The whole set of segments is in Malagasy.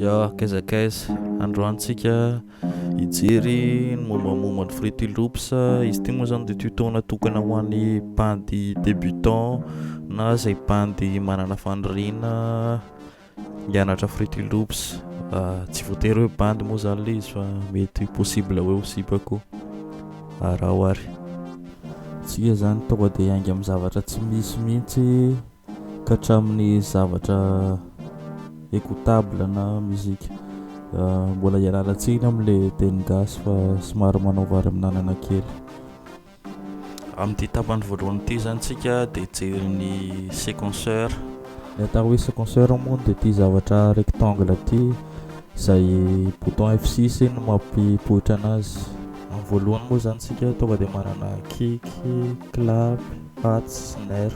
Ya, kaiza kaiza, androany tsika hijery ny mombamomba ny Fruity Loops, izy ity moa zany dia tuto natokana ho an'ny bandy débutant na izay bandy manana faniriana hianatra Fruity Loops, tsy voatery hoe bandy moa zany le izy fa mety possible hoe ho sipa koa, araho ary. Tsika zany tonga dia hiainga amin'ny zavatra tsy misy mihitsy ka hatramin'ny zavatra écoutable na musique mbola ialalantsina amin'ilay teny gasy fa somary manao vary amin'anana kely amin'ity tapany voalohany ity zany tsika dia jery ny séquenceur ny atao hoe séquenceur moa dia ity zavatra rectangle ity izay bouton F6 no mampipoitra anazy amin'ny voalohany moa zany tsika tonga dia manana kick, clap, hats, snare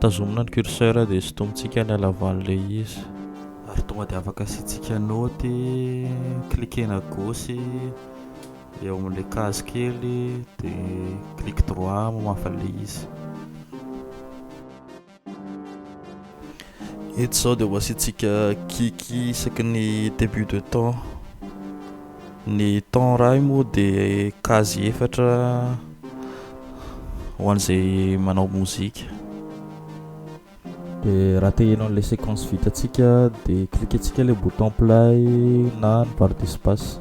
Tazomina ny curseur dia sintomintsika ilay laval'ilay izy. Ary tonga dia afaka asiantsika naoty, cliquer-na à gauche eo amin'ilay case kely dia clic droit mamafa ilay izy. Eto izao dia ho asiantsika kick isaky ny début de temps. Ny temps rail moa dia case efatra ho an'izay manao mozika. Dia raha te hihaino an'ilay séquence vitantsika dia cliquer-tsika ilay bouton play na ny barre d'espace.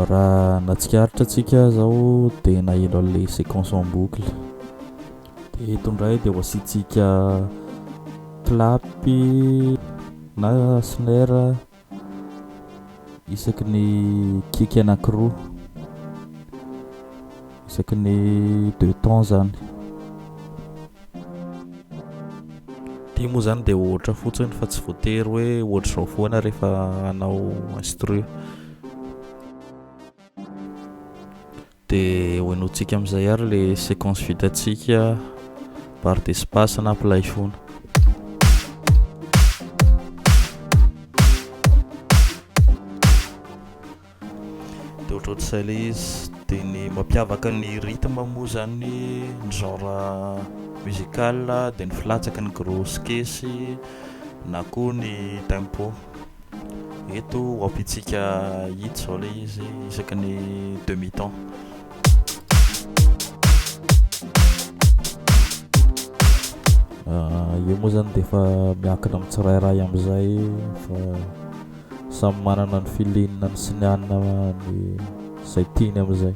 raha natsikaritra antsika zao dia naheno an'le séquence en boucle de eto indray dia ho asiantsika clapy na snare isaky ny kiky anankiroa isaky ny deux temps zany Ity moa zany dia ohatra fotsiny fa tsy voatery hoe ohatr'izao foana rehefa hanao instru. Dia hohenointsika amin'izay ary le séquence vitantsika barre d'espace na play foana. dia ohatrohatr'izay ilay izy dia ny mampiavaka ny rythme moa izany ny genre musical dia ny filatsaky ny gros kesy na koa ny tempo eto ho ampitsika hita izao ilay izy isaky ny demi temps ah, io moa izany dia efa miakina amin'ny tsirairay amin'izay fa Samy manana ny filinany sy ny anina ny zay tiany amizay.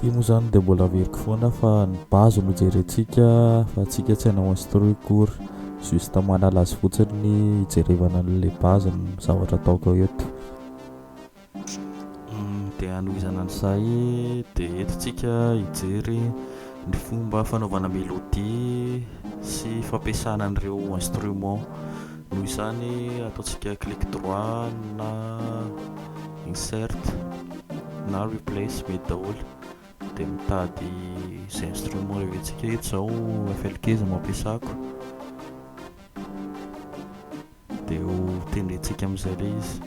Ity moa zany dia mbola averiko foana fa ny base no jerentsika fa atsika tsy hanao instru cours juste manala azy fotsiny hijerevana an'le base ny zavatra ataoko eto Dia hanohizana an'izay dia eto tsika hijery ny fomba fanaovana mélodie sy fampiasana an'ireo instrument. Noho izany ataontsika clic droit na insert na replace mety daholo dia mitady izay instrument reventsika. Eto izao FL15 no ampiasako. Dia ho tendrentsika amin'izay ilay izy.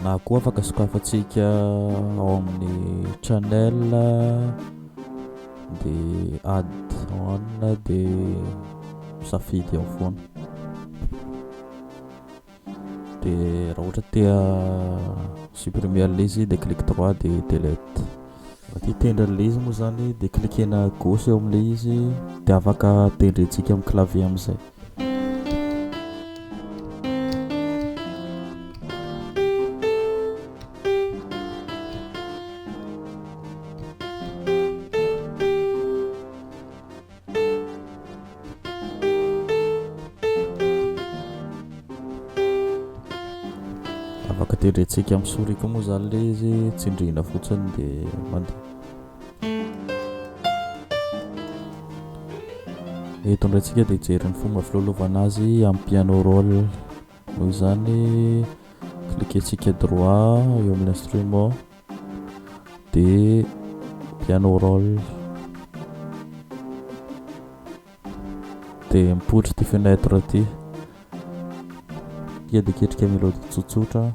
Na koa afaka sokafantsika ao amin'ny channel dia add on dia misafidy ao foana. Dia raha ohatra tea supprimer an'ilay izy dia clic droit dia delete. Ity tendry an'ilay izy moa izany dia cliquer-na gauche eo amin'ilay izy dia afaka tendrentsika amin'ny clavier amin'izay. Afaka tendrentsika amin'ny souris koa moa izany ilay izy, tsindrihina fotsiny dia mandeha. Eto indray tsika dia hijery ny fomba filalaovana azy amin'ny piano roll. Noho izany, cliquer-tsika droit eo amin'ny instrument. dia piano roll dia mipotry ity fenêtre ity dia dia ketrika melody tsotsotra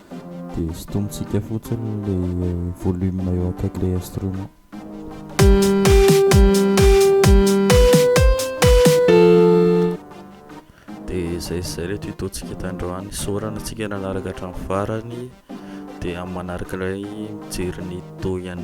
Dia sintomintsika fotsiny ilay volume eo akaikin'ilay instrument. Dia izay izay ilay tuto-tsika tandroany. Saorana antsika nanaraka hatramin'ny farany. Dia amin'ny manaraka ilay mijery ny tuto ihany.